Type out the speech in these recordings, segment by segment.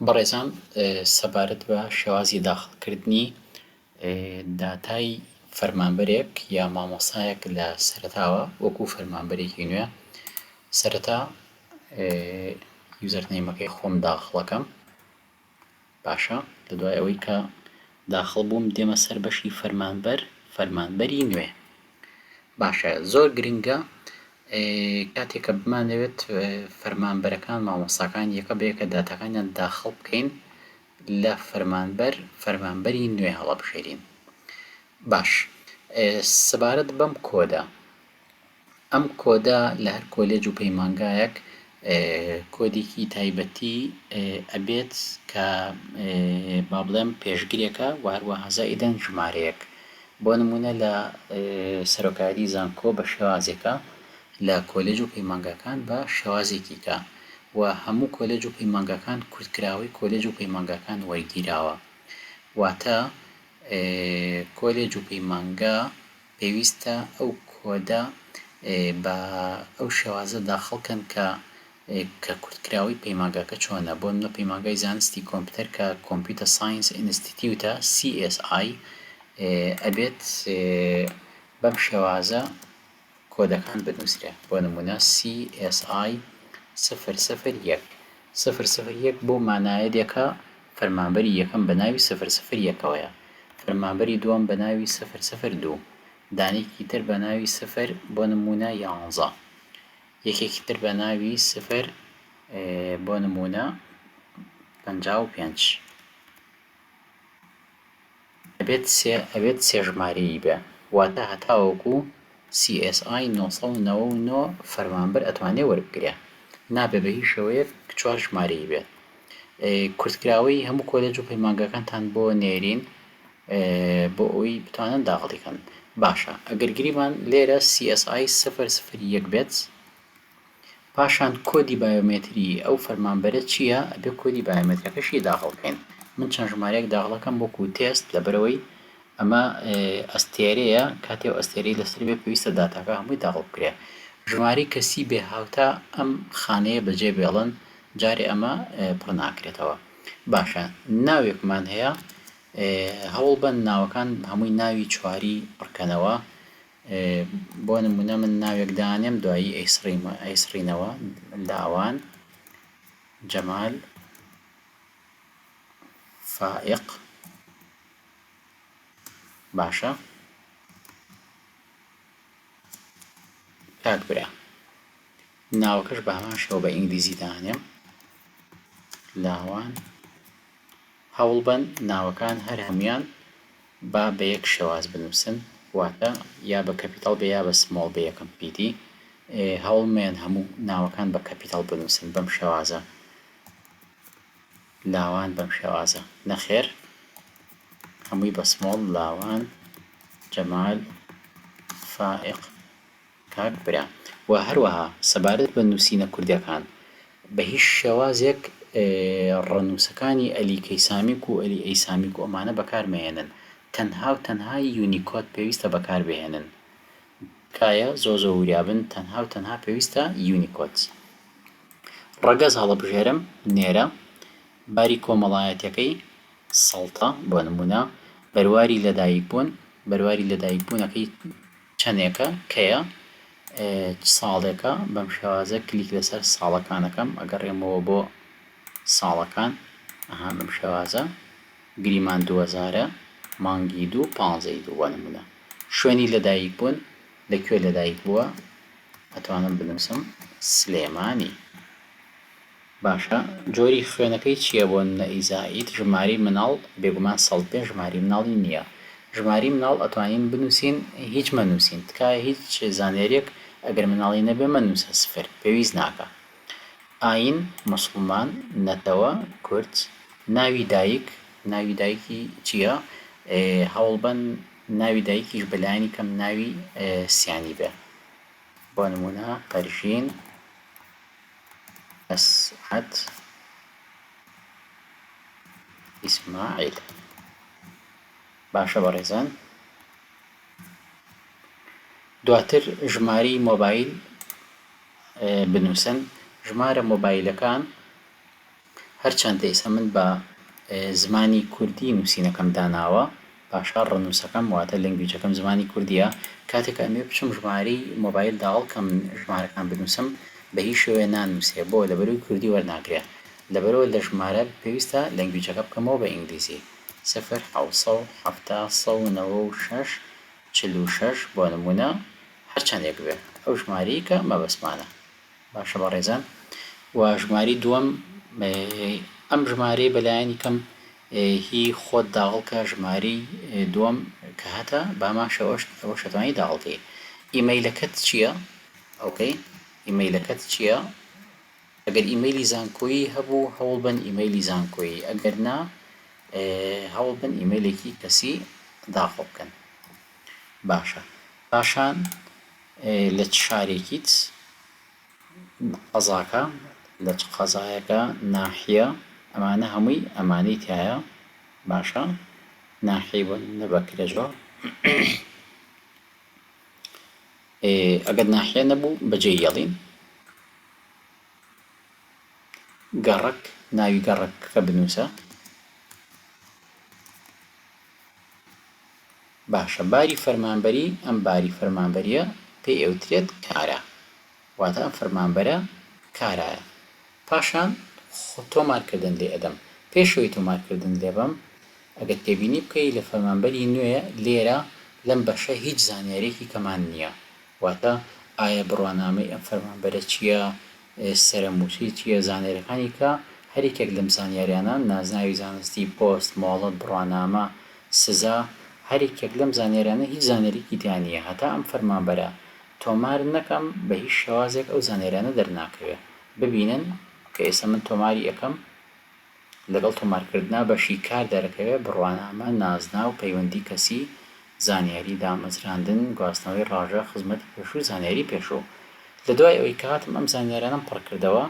بەڕێزان سەبارەت بە شێوازی داخڵکردنی داتای فەرمانبەرێک یا مامۆستایەک لە سەرەتاوە وەکو فەرمانبەرێکی نوێ سەرەتا یوزەرنەیمەکەی خۆم داخڵەکەم باشە لە دوای ئەوەی کە داخڵ بووم دێمە سەر بەشی فەرمانبەر فەرمانبەری نوێ باشە زۆر گرنگە کاتێک کە بمانەوێت فەرمانبەرەکان مامۆستاکان یەکە بەیەکە داتاکانیان داخڵ بکەین لە فەرمانبەر فەرمانبەری نوێ هەڵەبژێرین باش سەبارەت بەم کۆدە ئەم کۆدە لە هەر کۆلێج و پەیمانگایەک کۆدێکی تایبەتی ئەبێت کە با بڵێم پێشگرێکە و هەروەها زائیدەن ژمارەیەک بۆ نمونە لە سەرۆکایەتی زانکۆ بە شێوازێکە لە کۆلێج و پەیمانگاکان بە شێوازێکیکە و هەموو کۆلێج و پەیمانگاکان کورتکراوەی کۆلێج و پەیمانگاکان وەرگیراوە واتە کۆلێج و پەیمانگا پێویستە ئەو کۆدە بە ئەو شێوازە داخڵ کەن کە کە کورتکراوەی پەیمانگاکە چۆنە بۆ نمونە پەیمانگای زانستی کۆمپیوتەر کە کۆمپیوتە ساینس ئینستیتیوتە CSI ئەبێت بەم شێوازە کۆدەکان بنوسرێ بۆ نمونە CSI سفر سفر یەک سفر سفر یەک بۆ مانایە دێکا فەرمانبەری یەکەم بە ناوی سفر سفر یەکەوەیە، فەرمانبەری دووەم بە ناوی سفر سفر دوو، دانێکی تر بە ناوی سفر بۆ نموونە یانزە، یەکێکی تر بە ناوی سفر بۆ نموونە پەنجا و پێنج. ئەبێت سێ ئەبێت سێ ژمارەیی بێ واتا هەتاوەکو سی ئێس ئای نۆ سەد و نەوە و نۆ فەرمانبەر ئەتوانێ وەربگرێ نابێ بە هیچ شێوەیەک چوار ژمارەیی بێت کورتکراوەی هەموو کۆلێج و پەیمانگاکانتان بۆ نێرین بۆ ئەوی بتوانن داخڵیکەن باشە ئەگەر گریمان لێرە سی ئێس ئای سفر سفر یەک بێت پاشان کۆدی بایۆمەتری ئەو فەرمانبەرە چییە ئەبێ کۆدی بایۆمەترەکەشی داخڵ کەین من چەند ژمارەیەک داخڵەکەم وەکو تێست لەبەرەوەی ئەمە ئەستێرەیە کاتێ ئەستێرەی لەسەر بێ پێویستە داتاکە هەمووی داخڵ بکرێ ژماری کەسی بێ هاوتا ئەم خانەیە بەجێ بێڵن جارێ ئەمە پڕ ناکرێتەوە باشە ناوێکمان هەیە هەوڵ بەن ناوەکان هەمووی ناوی چواری پڕکەنەوە بۆ نموونە من ناوێک دانێم دوایی ئەیسڕینەوە، لاوان، جەمال، فائیق. باشە کاک برا ناوەکەش بە هەمان شێوە بە ئینگلیزی دانێم، لاوان. هەوڵبەن ناوەکان هەر هەموویان با بە یەک شێواز بنووسن واتە یا بە کەپیتاڵ بێ یا بە سمۆڵ بێ یەکەم پیتی هەوڵ مەیەن هەموو ناوەکان بە کەپیتاڵ بنووسن بەم شێوازە لاوان بەم شێوازە نەخێر هەمووی بە سمۆڵ لاوان جەمال فائق کاک برا وە هەروەها سەبارەت بە نوسینە کوردیەکان بە هیچ شێوازێک ڕە نوسەکانی ئەلی کەیسامیک و ئەلی ئەیسامیک و ئەمانە بەکار مەهێنن تەنها و تەنها یونیکۆد پێویستە بەکار بهێنن تکایە زۆر زۆر وریابن تەنها و تەنها پێویستە یونیکۆد ڕەگەز هەڵەبژێرم نێرە باری کۆمەڵایەتەکەی سەڵتە بۆ نمونە بەرواری لەدایک بوون بەرواری لەدایک بوونەکەی چەندێکە کەیە چ ساڵێکە بەم شێوازە کلیک لەسەر ساڵەکان ئەکەم ئەگەڕێمەوە بۆ ساڵەکان ئەها بەم شێوازە گریمان دووەزارە مانگی دوو پانزەی دوو بۆ نمونە شوێنی لەدایک بوون لە کوێ لەدایک بووە ئەتوانم بنووسم سلێمانی باشە جۆری خوێنەکەی چیە بۆ نەئی زائید ژماری مناڵ بێگومان سەد بێ ژماری مناڵی نیە ژماری مناڵ ئەتوانین بنوسین هیچ مەنوسین تکایە هیچ زانیاریەک ئەگەر مناڵی نەبێ مەنوسە سفر پێویست ناکا ئاین موسڵمان نەتەوە کورد ناوی دایک ناوی دایکی چیە ئێ هەوڵبەن ناوی دایکیش بە لایەنی کەم ناوی سیانی بێ بۆ نمونە پەرژین. ئەسعەد ئیسماعیل باشە بەڕێزان دواتر ژماری مۆبایل بنووسن ژمارە مۆبایلەکان هەرچەندە ئیستا من بە زمانی کوردی نوسینەکەم داناوە پاشا ڕەنوسەکەم واتە لەنگویجەکەم زمانی کوردیە کاتێک ئەمێ بچم ژماری مۆبایل داوەڵ کەم ژمارەکان بنوسم بە هیچ شێوەیە نانوسێ بۆ لەبەروی کوردی وەرناگرێ لەبەرەوە لە ژمارە پێویستە لەنگویجەکە بکەمەوە بە ئینگلیزی سفر حەوت سەد و حەفتا سەد و نەوە و شەش چل و شەش بۆ نمونە هەرچەندێک بێ ئەو ژمارەیە کە مەبەستمانە. باشە بەڕێزان وە ژمارەی دووەم ئەم ژمارەی بەلایەنی کەم هی خۆت داغڵ کە ژمارەی دووەم کە هەتە بامان شەوەشت ئەوە شەتوانی داغڵکەی ئیمەیلەکەت چییە ئەوکەی ئیمەیلەکەت چییە ئەگەر ئیمەیلی زانکۆیی هەبوو هەوڵ بەن ئیمەیلی زانکۆیی ئەگەر نا هەوڵ بەن ئیمەیلێکی کەسی داخڵ بکەن باشە پاشان لە چ شارێکیت قەزاکە لە چ قەزایەکە ناحیە ئەمانە هەمووی ئەمانەی تایە باشە ناحیەی بۆ نە بەکرە زۆر ئەگەر ناحیە نەبوو بەجێ یەڵین گەڕک ناوی گەڕکەکە بنووسە باشە باری فەرمانبەری ئەم باری فەرمانبەریە پێی ئەوترێت کارا واتە ئەم فەرمانبەرە کارایە پاشان خۆ تۆمار کردن لێ ئەدەم پێش ئەوەی تۆمار کردن لێ بەم ئەگەر تێبینی بکەی لە فەرمانبەری نوێ لێرە لەم بەشە هیچ زانیاریەکی کەمان نیە واتە ئایا بڕوانامەی ئەم فەرمانبەرە چیە سرم وتی چییە زانیاریەکانی کە هەر یەکێک لەم زانیاریانە، نازناوی زانستی، پۆست، مۆڵەت، بڕوانامە، سزا، هەر یەکێک لەم زانیاریانە هیچ زانیاریەکی تیا نییە هەتا ئەم فەرمانبەرە تۆمار نەکەم بە هیچ شێوازێک ئەو زانیاریانە دەرناکەوێ ببینن کە ئێستا من تۆماری ئەکەم، لەگەڵ تۆمارکردنا بەشی کار دەرەکەوێ، بڕوانامە، نازناو، پەیوەندی کەسی، زانیاری دامەزراندن، گواستنەوەی ڕاژە، خزمەتی پێشوو، زانیاری پێشوو. لە دوای ئەوەی کە هاتم ئەم زانیارانەم پڕ کردەوە،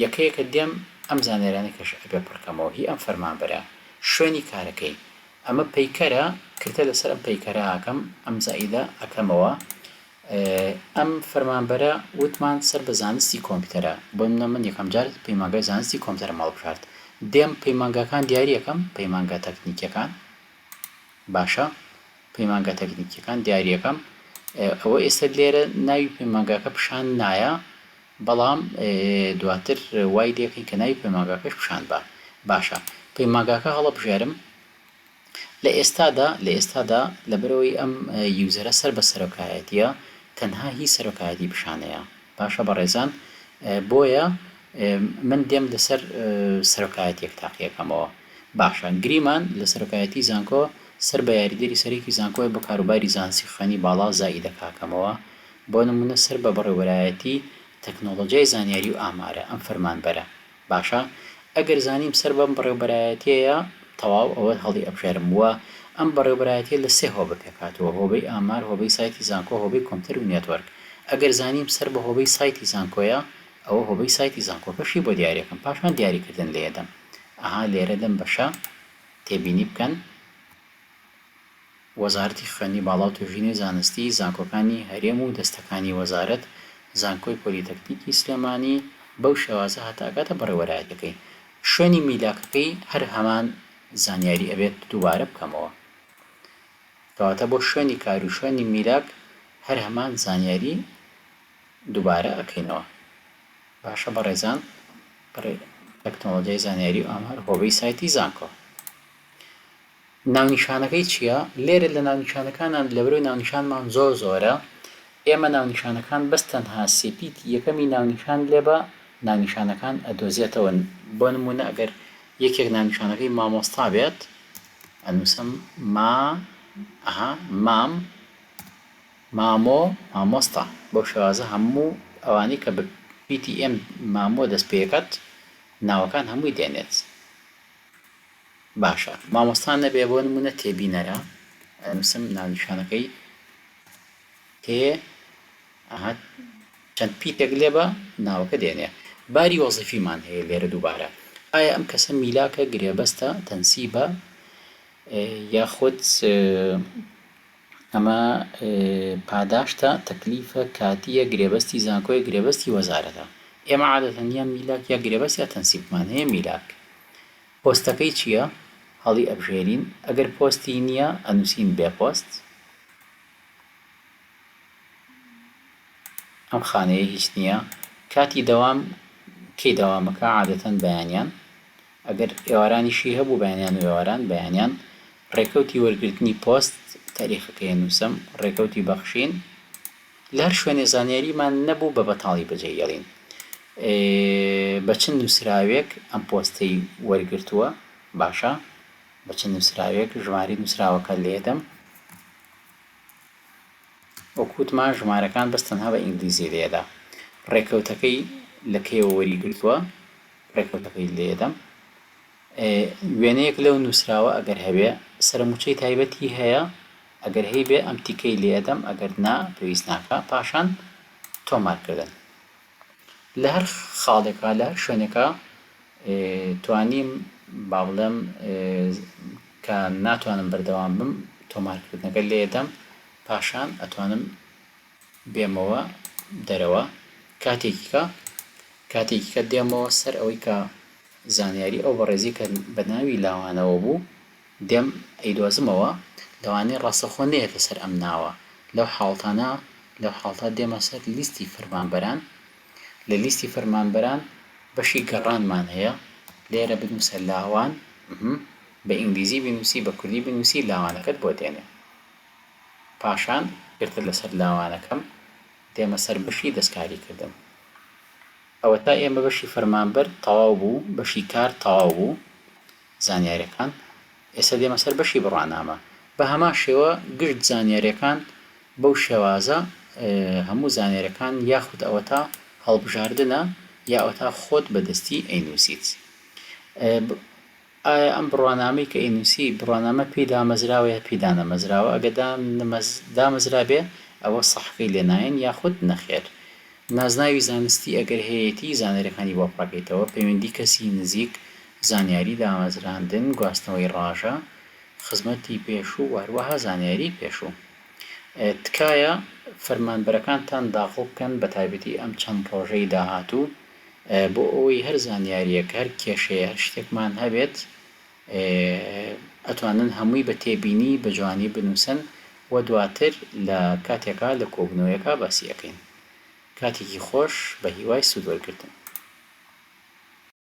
یەکە یەکە دێم ئەم زانیارانەی کەش ئەبێ پڕ کەمەوە هی ئەم فەرمانبەرە، شوێنی کارەکەی، ئەمە پەیکەرە، کرتە لەسەر ئەم پەیکەرە ئاکەم، ئەم زائیدە ئەکەمەوە، ئەم فەرمانبەرە وتمان سەر بە زانستی کۆمپیوتەرە بۆنمونە من یەکەم جار پەیمانگای زانستی کۆمپیوتەرم هەڵبژارد دێم پەیمانگاکان دیاری ئەکەم پەیمانگا تەکنیکیەکان باشە پەیمانگا تەکنیکیەکان دیاری ئەکەم ئەوە ئێستا لێرە ناوی پەیمانگاکە پیشان نایە بەڵام دواتر وای لێکەین کە ناوی پەیمانگاکەش پیشان بە باشە پەیمانگاکە هەڵەبژێرم لە ئێستادا، لە ئێستادا لەبەرئەوەی ئەم یوزەرە سەر بە سەرۆکایەتیە تەنها هی سەرۆکایەتی پیشانەیە باشە بەڕێزان بۆیە من دێم لەسەر سەرۆکایەتیەک تاقیەکەمەوە باشە گریمان لە سەرۆکایەتی زانکۆ سەر بە یاریدەری سەرێکی زانکۆی بۆ کاروباری زانسی خوێنی باڵا زائیدەکاکەمەوە بۆ نمونە سەر بە بەڕێوەبەرایەتی تەکنۆڵۆجیای زانیاری و ئامارە ئەم فەرمانبەرە باشە ئەگەر زانیم سەر بەم بەڕێوبەرایەتیەیە تەواو ئەوە هەڵی ئەبژێرم وە ئەم بەڕێوبەرایەتیە لە سێ هۆبە پێک هاتووە هۆبەی ئامار هۆبەی سایتی زانکۆ هۆبەی کۆمپتەر و نێتۆرک ئەگەر زانیم سەر بە هۆبەی سایتی زانکۆیە ئەوە هۆبەی سایتی زانکۆکەشی بۆ دیاریەکەم پاشان دیاری کردن لێ دەم ئەها لێرە لەم بەشە تێبینی بکەن. وەزارەتی خوێندنی باڵاو توێژینەوەی زانستی، زانکۆکانی هەرێم و دەستەکانی وەزارەت، زانکۆی پۆلیتەکنیکی سلێمانی بەو شێوازە هەتا ئەگاتە بەڕێوەرایەتیەکەی. شوێنی میلاکەکەی هەر هەمان زانیاری ئەبێت دووبارە بکەمەوە. کەواتە بۆ شوێنی کارو شوێنی میلاک هەر هەمان زانیاری دووبارە ئەکەینەوە. باشە بەڕێزان بەڕێ تەکنۆڵۆجیای زانیاری و ئامار هۆبەی سایتی زانکۆ. ناونیشانەکەی چیە؟ لێرە لە ناونیشانەکانان لەبەرئەوەی ناونیشانمان زۆر زۆرە ئێمە ناونیشانەکان بەس تەنها سیپیتی یەکەمی ناونیشان لێ بە ناونیشانەکان ئەدۆزێتەوە بۆ نمونە ئەگەر یەکێک ناونیشانەکەی مامۆستا بێت ئەنوسم ما ئەها مام مامۆ مامۆستا بەو شێوازە هەموو ئەوانەی کە بە پیتی ئێم مامۆ دەست پێکەت ناوەکان هەمووی دێنێت. باشە مامۆستا نەبێ بۆ نمونە تێبینەرە ئەنوسم ناونیشانەکەی تێ ئەها چەند پیتێک لێ بە ناوەکە دێنێ باری وەزیفیمان هەیە لێرە دووبارە ئایا ئەم کەسە میلاکە گرێبەستە تەنسیبە یاخود ئەمە پاداشتە، تەکلیفە، کاتییە، گرێبەستی زانکۆیە، گرێبەستی وەزارەتە. ئێمە عادەتەن یا میلاک یا گرێبەست یا تەنسیبمان هەیە، میلاک. پۆستەکەی چییە؟ هەڵیئەبژێرین، ئەگەر پۆستی نییە، ئەنووسین بێ پۆست. ئەم خانەیە هیچ نییە. کاتی دەوام کەی دەوامەکە؟ عادەتەن بەیانیان. ئەگەر ئێوارانیشی هەبوو بەیانیان و ئێواران بەیانیان، ڕێکەوتی وەرگرتنی پۆست، تاریخەکەی ئەنووسم، ڕێکەوتی بەخشین، لەهەر شوێنێ زانیاریمان نەبوو بە بەتاڵی بەجێی هێڵین. ئێ بە چ نووسراوێک ئەم پۆستەی وەرگرتووە؟ باشە بە چ نووسراوێک؟ ژمارەی نووسراوەکە لێدەم. وەک وتمان ژمارەکان بەس تەنها بە ئینگلیزی لێدە. ڕێکەوتەکەی لە کەیەوە وەریگرتووە؟ ڕێکەوتەکەی لێدەم. وێنەیەک لەو نووسراوە ئەگەر هەبێ، سەرمووچەی تایبەتی هەیە؟ ئەگەر هەیبێ ئەم تیکەی لێدەم، ئەگەر نا پێویست ناکا. پاشان تۆمارکردن. لە هەر خاڵێکا، لە هەر شوێنێکا توانیم با بڵێم کە ناتوانم بەردەوام بم، تۆمارکردنەکە لێدەم، پاشان ئەتوانم. بێمەوە دەرەوە کاتێکیکە کاتێکیکە دێمەوە سەر ئەوەی کە زانیاری ئەو بەڕێزی کە بە ناوی لاوانەوە بوو دێم ئەیدۆزمەوە لەوانەیە ڕاستەخۆ نەیەتە سەر ئەم ناوە لەو حاڵتانە لەو حاڵتا دێمە سەر لیستی فەرمانبەران لە لیستی فەرمانبەران بەشی گەڕانمان هەیە لێرە بنووسە لاوان بە ئینگلیزی بنووسی بە کوردی بنووسی لاوانەکەت بۆ دێنێ پاشان گرتە لەسەر لاوانەکەم دێمە سەر بەشی دەستکاریکردن. ئەوەتا ئێمە بەشی فەرمانبەر تەواو بوو، بەشی کار تەواو بوو، زانیاریەکان. ئێستا دێمە سەر بەشی بڕوانامە. بە هەمان شێوە گشت زانیاریەکان بەو شێوازە هەموو زانیاریەکان یاخود ئەوەتا هەڵبژاردنە یا ئەوەتا خۆت بەدەستی ئەینووسیت. ئایا ئەم بڕوانامەی کە ئینوسی بڕوانامە پێی دامەزراوە یا پێی دانەمەزراوە ئەگە دانمەز دامەزرابێ ئەوە سەحفەی لێ نایەن یاخود نەخێر نازناوی زانستی ئەگەر هەیەتی زانیاریەکانی بۆ پڕەکەیتەوە پەیوەندی کەسی نزیک زانیاری دامەزراندن گواستنەوەی ڕاژە خزمەتی پێشوو و هەروەها زانیاری پێشوو تکایە فەرمانبەرەکانتان داخڵ بکەن بەتایبەتی ئەم چەند ڕۆژەی داهاتوو. بۆ ئەوەی هەر زانیاریەک هەر کێشەیە هەر شتێکمان هەبێت ئەتوانن هەمووی بە تێبینی بە جوانی بنووسن و دواتر لە کاتێکا لە کۆبنەوەیەکا باسی ئەکەین کاتێکی خۆش بە هیوای سوود وەرگرتن.